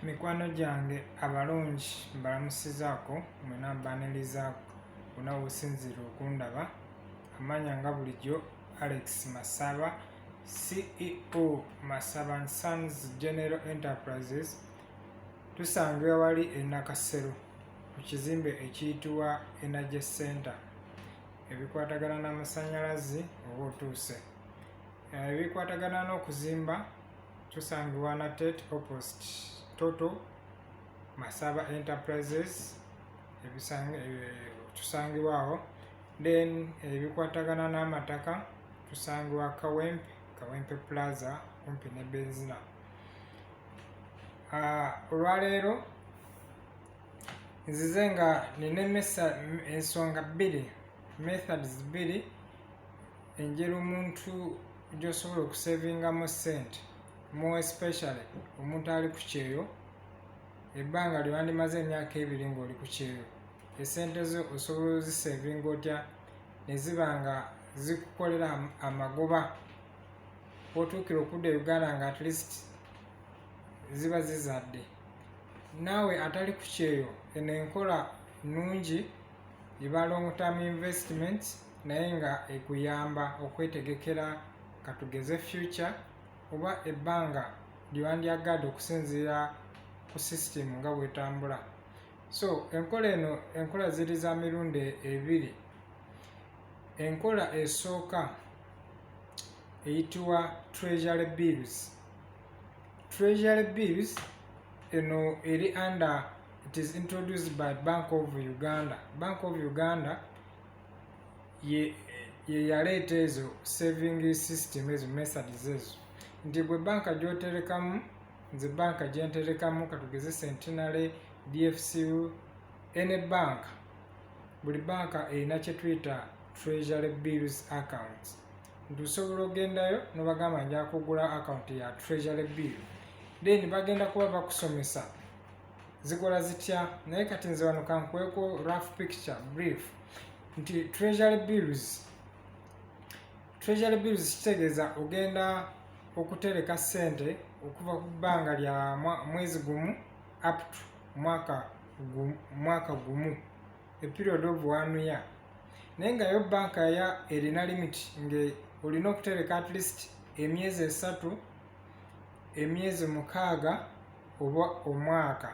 mikwano gyange abalungi mbalamusizaako mwena mbaniriza wona wosinziire okundaba amanya nga bulijjo alex masaba ceo masaba sons general enterprises tusangira wali enakasero ku kizimbe ekiyitibwa energy center ebikwatagana n'amasanyalazi oba otuuse Eh, ebikwatagana n'okuzimba tusangibwa na tet oppost toto masaba enterprises tusangibwa awo then ebikwatagana n'amataka tusangibwa kawempe kawempe plaza kumpi ne benzina ah, olwaleero nzize nga nina ensonga bbiri methods bbiri engeri omuntu gyosobola okusevingamu sente more especially omuntu ali ku kyeyo ebbanga lyewandimaze emyaka ebiri ngaoli ku kyeyo esente zo osobola ozisevinga otya neziba nga zikukolera amagoba otuukira okudda e uganda nga at least ziba zizadde naawe atali ku kyeyo eno enkola nnungi eba long term investment naye nga ekuyamba okwetegekera katugeze future oba ebbanga lyewandyagadde okusinziira ku system nga bwetambula so enkola eno enkola ziri za mirundi ebiri enkola esooka eyitibwa treasury bills treasury bills eno eri under it is introduced by bank of uganda bank of uganda ye yeyaleeta ezo saving system ezo methods ezo nti gwe banka gyoterekamu nze banka gyenterekamu katugeze centenary dfcu any bank buli banka erina kyetuyita treasury bills accounts nti osobola ogendayo nobagamba nja kugula akawunti ya treasury bill then bagenda kuba bakusomesa zikola zitya naye kati nze wano kankuweko rough picture brief nti treasury bills treasury bills kitegeeza ogenda okutereka sente okuva ku bbanga lya mwezi gumu up to mwaka gumu a period of one year naye nga yo banka ya erina limit nga olina okutereka at least emyezi esatu emyezi mukaaga oba omwaka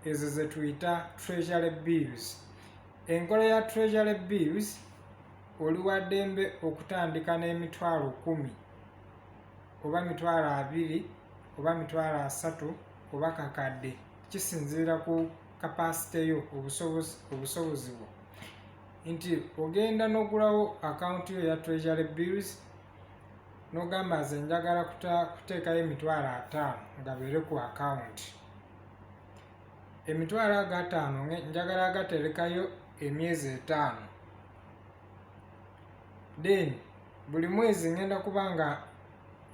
ezo zetuyita treasury bills enkola ya treasury bills oliwadembe okutandika n'emitwalo kumi oba mitwalo abiri oba mitwalo asatu oba kakadde kisinziira ku kapasite yo obusobozi bwo nti ogenda n'ogulawo akawunti yo ya treasury bills n'ogamba nze njagala kuteekayo emitwalo ataano nga beere ku akawunti emitwalo ago ataano njagala agaterekayo emyezi etaano then buli mwezi ngenda kuba nga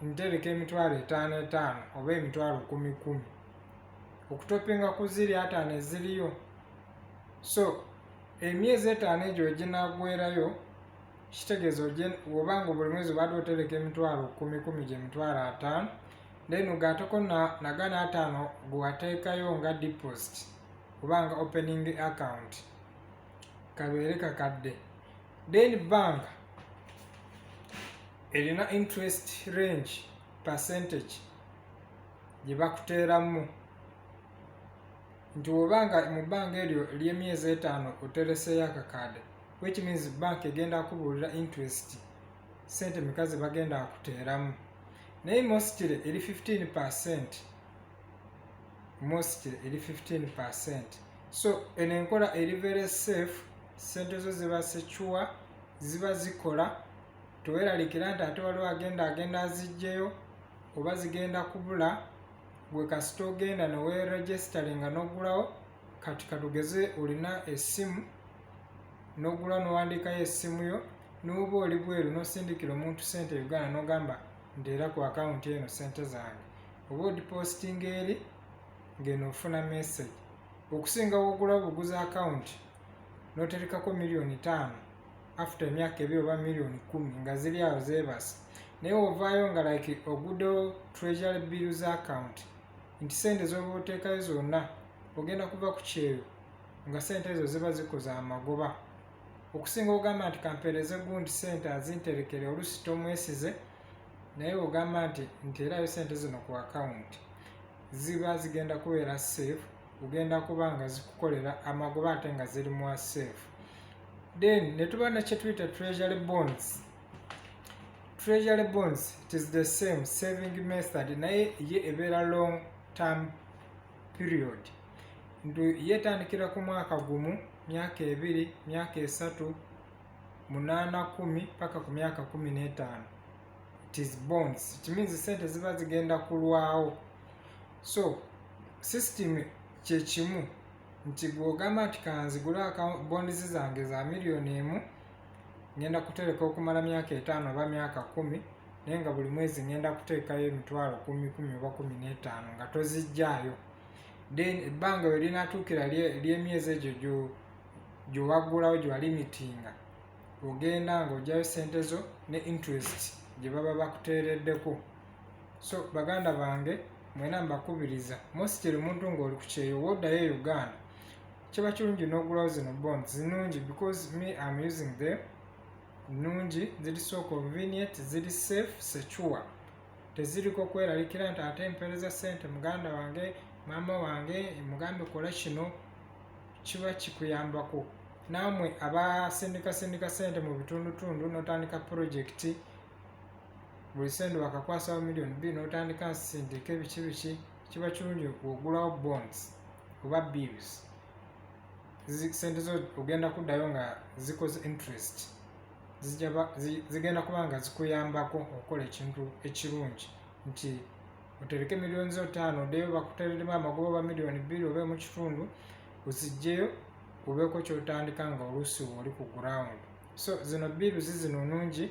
ntereka emitwalo etaano etaano oba emitwalo kumi kumi okutopinga ku ziri ataano eziriyo so emyezi etaano egyo weginagwerayo kitegeeza oba nga buli mwezi obadde otereka emitwalo kumi kumi gye mitwalo ataano then ogaateko nagana ataano gwewateekayo nga deposit oba nga opening account kabeere kakadde then bank erina interest range percentage gye bakuteeramu nti woba nga mu bbanga eryo ly'emyezi etaano otereseeyo akakaade which means bank egenda kubuulira interest sente meka ze bagenda akuteeramu naye mositire eri 15 percent mositire eri 15 percent so eno enkola eri very safe sente zo ziba secure ziba zikola teweralikira nti ate waliwo agenda agenda azijjeyo oba zigenda kubula gwe kasita ogenda neweregisteringa nogulawo kati katugeze olina essimu nogula nowandiikayo essimu yo noba oli bweru nosindikira omuntu sente uganda nogamba ndeera ku akawunti eno sente zange oba odipostinga eri ngeno ofuna message okusinga wogulawo buguzi akawunti noterekako miliyoni taano after emyaka ebiri oba millioni kumi nga ziri awo zebasa naye ovaayo nga like ogudo treasury bills account nti sente zoba oteekayo zonna ogenda kuva ku kyeyo nga sente ezo ziba zikoza amagoba okusinga ogamba nti kampeereze gundi sente azinterekere olusi tomwesize naye ogamba nti nti erayo sente zino ku akawunti ziba zigenda kubeera safe kugenda kuba nga zikukolera amagoba ate nga ziri mu aseefu then ne tuba nekyetuyita treasury bonds treasury bonds it is the same saving method naye ye ebeera long term period ntu yetandikira ku mwaka gumu myaka ebiri myaka esatu munaana kumi paka ku myaka kumi n'etaano it is bonds it means sente ziba zigenda kulwawo so system kyekimu nti gwogamba nti kanzigule bondizi zange za miliyoni emu ngenda kutereka okumala myaka etaano oba myaka kumi naye nga buli mwezi ngenda kuteekayo emitwalo kumi kumi oba kumi n'etaano nga tozijjaayo then ebbanga we linatuukira ly'emyezi egyo gyowaggulawo gye walimitinga ogenda ng'ojayo sente zo ne interest gye baba bakuteereddeko so baganda bange mwena mbakubiriza mostly omuntu ngaoli ku kyeyo wodayo e uganda kiba kirungi n'ogulawo zino bonds zinungi because me am using them nungi ziri so convenient ziri safe secure teziriko kweralikira nti ate mpereza sente muganda wange maama wange mugambe kola kino kiba kikuyambako naamwe abasindikasindika sente mu bitundutundu notandika purojekiti buli sente bakakwasawo million bbiri n'otandika nsindika ebiki biki kiba kirungi ogulawo bonds oba bills sente zo ogenda kuddayo nga zikoze interest zigenda kuba nga zikuyambako okukola ekintu ekirungi nti otereke miliyoni zo ttaano oddeyo bakutereremu amagoba oba miliyoni bbiri oba mu kitundu ozijjeyo obeeko kyotandika nga oluusi oli ku gurawundi so zino biiruzi zino nungi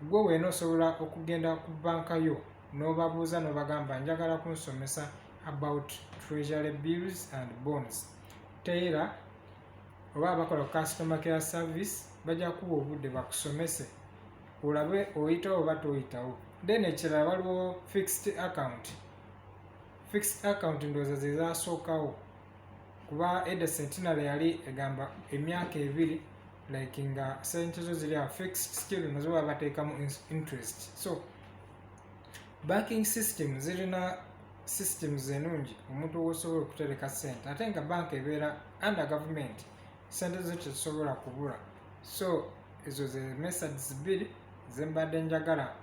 gwe weena osobola okugenda ku banka yo n'obabuuza n'obagamba njagala kunsomesa about treasury bills and bonds teyera oba abakola ku customer care service bajja kuwa obudde bakusomese olabe oyitawo oba toyitawo then ekirala waliwo fixed account fixed account ndowooza zezasookawo kuba edda centenary yali egamba emyaka ebiri like nga sente zo ziri awo fixed skill nazo baba bateekamu interest so banking system zirina systems enungi omuntu wosobola okutereka sente ate nga banka ebeera under government sente zo tezisobola kubula so ezo ze methods bbiri zembadde njagala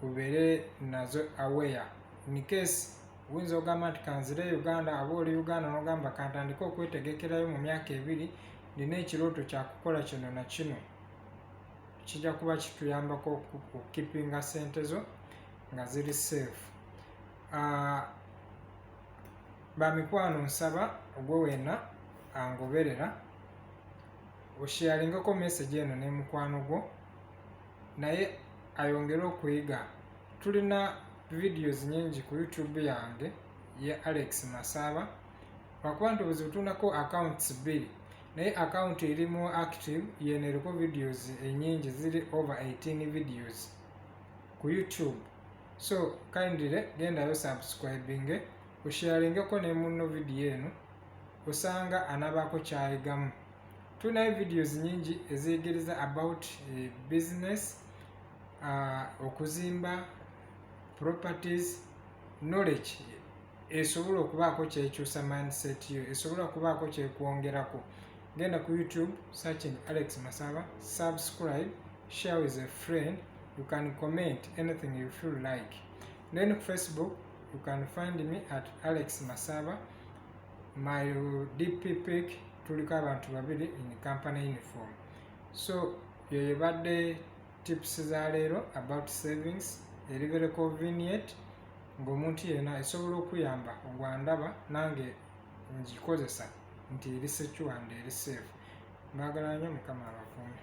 ubeere nazo aware in case oyinza ogamba nti kanzire e uganda aba oli uganda nogamba kantandike okwetegekerayo mu myaka ebiri nina ekirooto kyakukola kino na kino kijja kuba kituyambako okukipinga sente zo nga ziri safe ah, bamikwano nsaba ogwe wena angoberera osheyaringako message eno nemukwano gwo naye ayongere okuyiga tulina videos nyingi ku youtube yange ye alex masaba lwakuba nti obuzibu tulinako accounts bbiri naye account eri mu active yeno eriko videos enyingi ziri over 18 videos ku youtube so kindly gendayo subscribing osharingeko ne munno video eno osanga anabaako kyayigamu tulinayo videos nyingi eziyigereza about eh, business uh, okuzimba properties knowledge esobola okubaako kyekyusa mindset yo esobola okubaako kyekwongerako genda ku youtube searching alex masaba subscribe share with a friend you can comment anything you feel like then ku facebook you can find me at alex masaba my dp pic tuliko abantu babiri in company uniform so yo yebadde tips za leero about savings eri very convenient ng'omuntu yena esobola okuyamba ogwandaba nange ngikozesa nti eri secure and eri safe mbagala nyo mukama abakuume